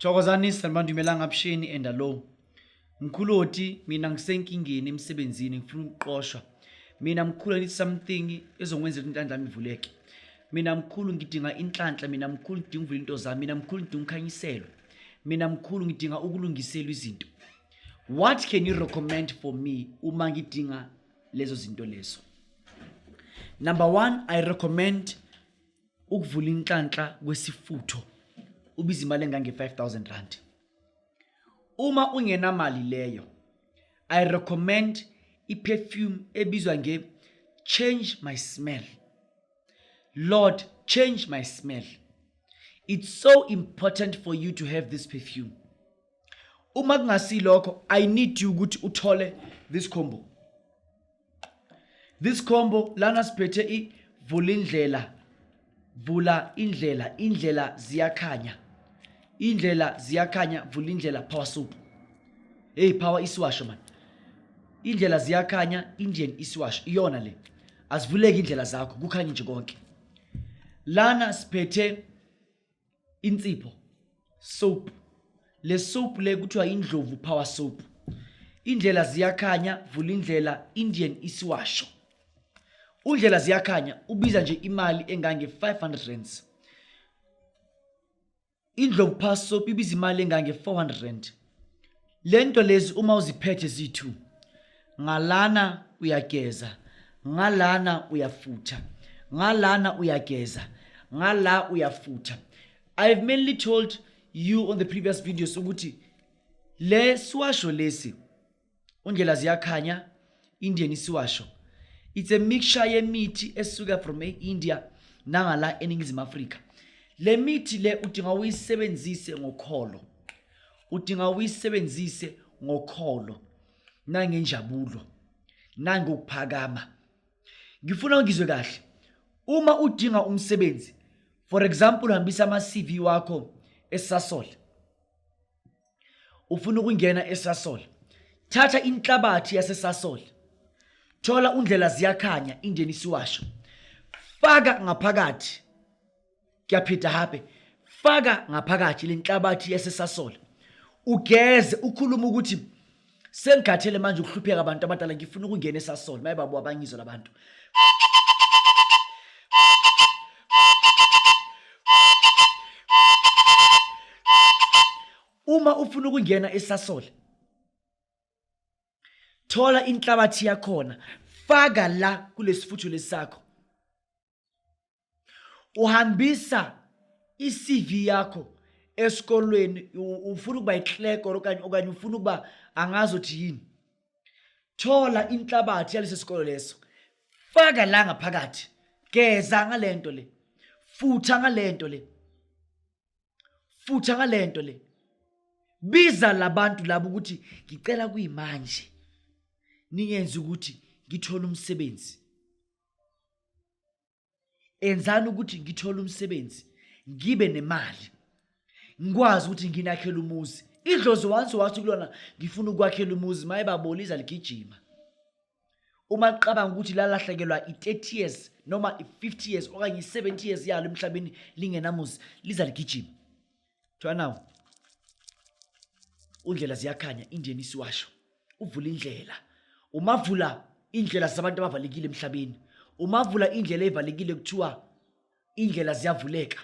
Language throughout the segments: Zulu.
Thokozani sanibandi umelanga abshini enda lo. Mkhuloti mina ngisenkingeni emsebenzini ngifuna ukuqoshwa. Mina mkhulu ngithi something ezongwenzela intandla yami ivuleke. Mina mkhulu ngidinga inhlanhla, mina mkhulu ngidinga uvula into zami, mina mkhulu ngidinga ukukhanyiselwa. Mina mkhulu ngidinga ukulungiselwa izinto. what can you recommend for me uma ngidinga lezo zinto lezo number one i recommend ukuvula inhlanhla kwesifutho ubiza imali engange-5000 rand uma ungenamali leyo i recommend iperfume ebizwa nge change my smell lord change my smell it's so important for you to have this perfume uma kungasilokho i need you ukuthi uthole this combo this combo lana siphethe i vula indlela vula indlela indlela ziyakhanya indlela ziyakhanya vula indlela power soup hey power isiwasho man indlela ziyakhanya indian isiwasho iyona le azivuleki indlela zakho kukhanye nje konke lana siphethe insipho soap le soap le kuthiwa indlovu power soap indlela ziyakhanya vula indlela indian isiwasho undlela ziyakhanya ubiza nje imali engange-500 rands indlovu power soap ibiza imali engange-400 rand lento lezi uma uziphethe zithu ngalana uyageza ngalana uyafutha ngalana uyageza ngala uyafutha i have mainly told you on the previous videos ukuthi le siwasho lesi undlela ziyakhanya indian isiwasho it's a mixture yemithi esuka from e-india nangala eningizimu afrika le mithi le udinga uyisebenzise ngokholo udinga uyisebenzise ngokholo nangenjabulo nangokuphakama ngifuna ngizwe kahle uma udinga umsebenzi for example hambisa ama-cv wakho esasol ufuna ukungena eSasol thatha inhlabathi yaseSasol thola undlela ziyakhanya indeni siwasho faka ngaphakathi kuyaphida habe faka ngaphakathi lenhlabathi yaseSasol ugeze ukhuluma ukuthi Sengikhathele manje ukuhlupheka abantu abadala ngifuna ukungena esasol. Maye babu abangizwa labantu. Uma ufuna ukungena esasol thola inhlabathi yakhona faka la kulesifuthu lesakho uhambisa i-CV yakho esikolweni ufuna ukuba yikleko okanye okanye ufuna ukuba angazi uthi yini thola inhlabathi yalesi sikolo leso faka la ngaphakathi geza ngale nto le futha ngale nto le futha ngale nto le biza labantu labo ukuthi ngicela kuyimanje ningenzi ukuthi ngithole umsebenzi enzani ukuthi ngithole umsebenzi ngibe nemali ngikwazi ukuthi nginakhele umuzi idlozi wansi wathi kulona ngifuna ukwakhela umuzi maye baboliza ligijima uma licabanga ukuthi lalahlekelwa i-30 years noma i-50 years okanye i-70 years yalo emhlabeni lingenamuzi liza ligijima Try now. Undlela ziyakhanya indeni isiwasho. Uvula indlela. Umavula indlela zabantu abavalekile emhlabeni. Umavula indlela evalekile kuthiwa indlela ziyavuleka.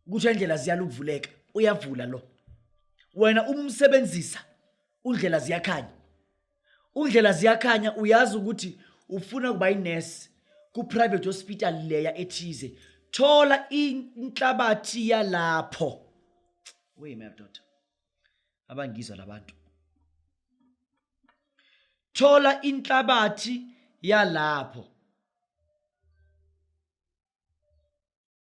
Kusho indlela ziyaluvuleka. Uyavula lo. Wena umsebenzisa undlela ziyakhanya. undlela ziyakhanya uyazi ukuthi ufuna ukuba inurse ku-private hospital leya ethize thola inhlabathi yalapho weyimdoda abangizwa labantu thola inhlabathi yalapho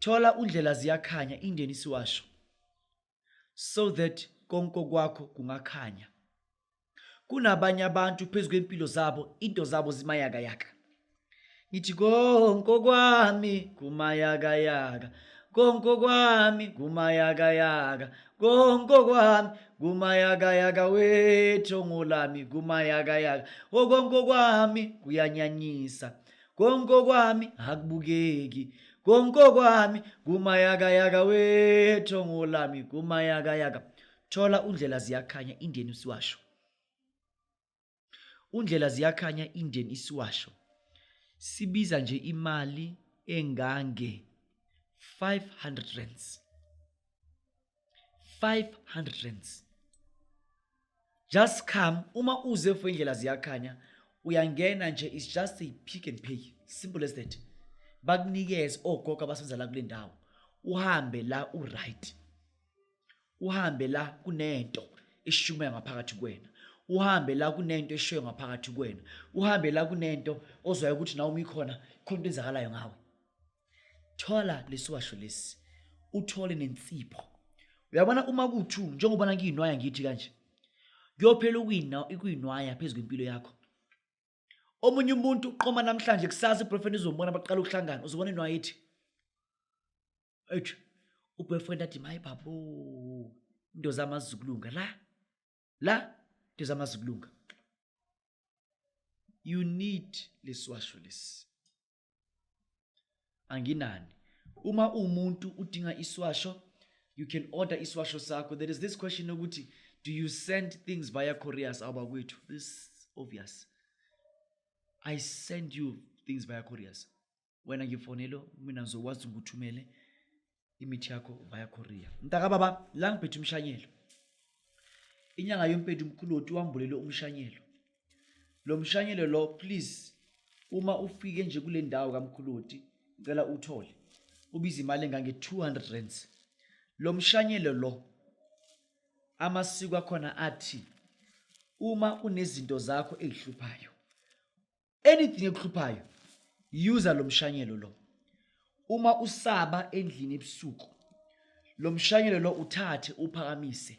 Thola undlela ziyakhanya indeni siwasho so that konke kwakho kungakhanya. Kunabanye abantu phezu kwempilo zabo into zabo zimayaka yaka. Ngithi konke kwami kumayaka yaka. Konke kwami kumayaka yaka. Konke kwami kumayaka yaka wethu ngolami kumayaka yaka. Okonke kwami kuyanyanyisa. konke okwami akubukeki konke okwami kumayakayaka wethongo lami kumayakayaka thola undlela ziyakhanya indeni usiwasho undlela ziyakhanya indeni isiwasho sibiza nje imali engange 500 rands 500 rands just come uma uze for indlela ziyakhanya uyangena nje is just a pick and pay simple as that bakunikeze ogogo abasenza la kule ndawo uhambe la uright uhambe la kunento eshumayo ngaphakathi kwena uhambe la kunento eshoyo ngaphakathi kwena uhambe la kunento ozwayo ukuthi nawe umikhona khona into enzakalayo ngawe thola lesiwasho lesi uthole nensipho uyabona uma kuthu njengoba nangiyinwaya ngithi kanje kuyophela ukuyina ikuyinwaya phezu kwempilo yakho omunye umuntu uqoma namhlanje kusasa iboyfriend izombona baqala ukuhlangana uzobona inwaya ithi ethi uboyfriend athi mayi babo into zami azizukulunga la la into zami azizukulunga you need lesiwasho lesi anginani uma umuntu udinga iswasho you can order iswasho sakho there is this question yokuthi do you send things via couriers abakwethu this obvious i send you things via couriers wena ngifonelo mina ngizokwazi ukuthumele imithi yakho via courier mntakababa la ngiphethe umshanyelo inyanga yompethu umkhuloti wambulele umshanyelo lo mshanyelo lo please uma ufike nje kule ndawo kamkhuloti ngicela uthole ubiza imali engange-200 rands lo mshanyelo lo amasiko akhona athi uma unezinto zakho ezihluphayo anything ekuhluphayo user lo mshanyelo lo uma usaba endlini ebusuku lo mshanyelo lo uthathe uphakamise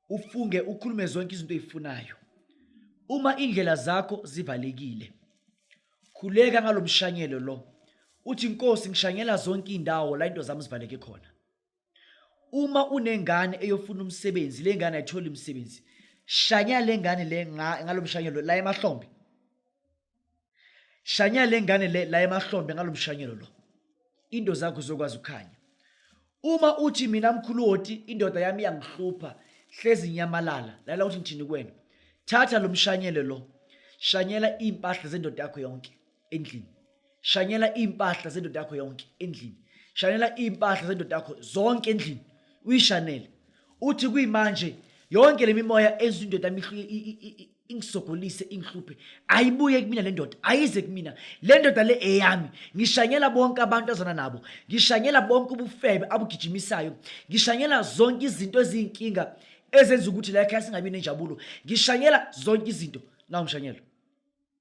ufunge ukhulume zonke izinto ezifunayo uma indlela zakho zivalekile khuleka ngalomshanyelo lo uthi inkosi ngishanyela zonke indawo la into zami zivaleke khona uma unengane eyofuna umsebenzi le ngane ayitholi umsebenzi shanya le ngane le ngalo mshanyelo la emahlombe shanya le ngane le la emahlombe ngalo mshanyelo lo into zakho zokwazi ukukhanya uma uthi mina mkhulu woti indoda yami iyangihlupha hlezi nyamalala lala uthi ngithini kwena thatha lo mshanyelo lo shanyela iy'mpahla zendoda yakho yonke endlini shanyela iy'mpahla zendoda yakho yonke endlini shanyela iy'mpahla zendoda yakho zonke endlini uyishanele uthi kuyimanje yonke le mimoya enza indoda ingisogolise ingihluphe ayibuye kumina le ndoda ayize kumina le ndoda le eyami ngishanyela bonke abantu azana nabo ngishanyela bonke ubufebe abugijimisayo ngishanyela zonke izinto eziyinkinga ezenza ukuthi la ekhaya singabi nenjabulo ngishanyela zonke izinto nawu ngishanyela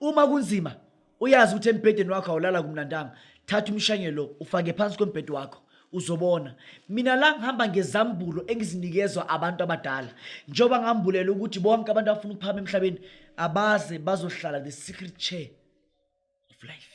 uma kunzima uyazi ukuthi embhedeni wakho awulala kumnandanga thatha umshanye lo ufake phansi kwembhedi wakho uzobona mina la ngihamba ngezambulo engizinikezwa abantu abadala njengoba ngambulela ukuthi bonke abantu abafuna ukuphama emhlabeni abaze bazohlala the secret chair of life